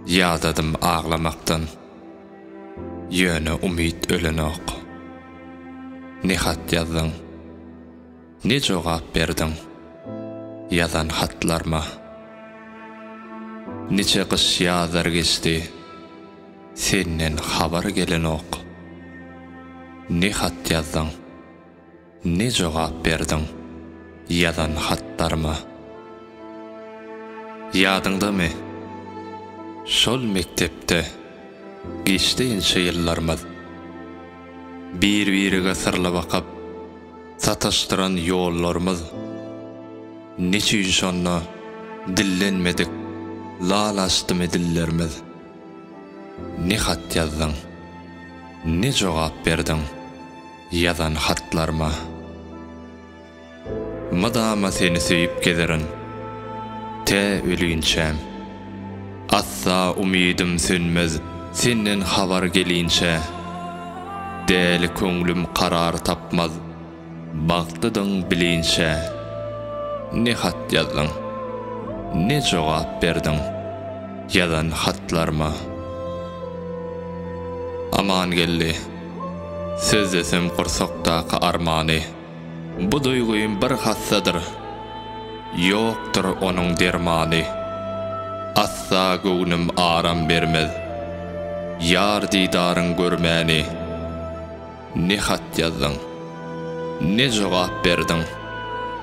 Ýadadym aglamakdan, ýöne umyt ölenok. Ne hat ýazdyň, ne jogap berdiň ýazan hatlarma. Niçe gyş-ýazlar geçdi, senden habar gelenok. Ne hat ýazdyň. Ne jogap berdiň ýazan hatlaryma? Ýadyňdamy, şol mekdepde geçdi inçe ýyllarymyz. Bir-birige syrly bakyp, sataşdyran ýollarymyz. Neçüýn şonda dillenmedik, lal açdymy dillerimiz? Ne hat ýazdyň, ne jogap berdiň? Ýazan hatlaryma mydama seni söýüp gezerin tä ölinçäm Asla umydym sönmez senden habar gelinçä Däli köňlüm karar tapmaz bagtlydyň bilinçä Ne hat ýazdyň ne jogap berdiň ýazan hatlaryma Amangeldi Söz desem gursakdaky armany. Bu duýgym bir hassadyr. Ýokdur onuň dermany. Asla göwnüm aram bermez. Ýar didaryň görmäni. Ne hat ýazdyň, ne jogap berdiň.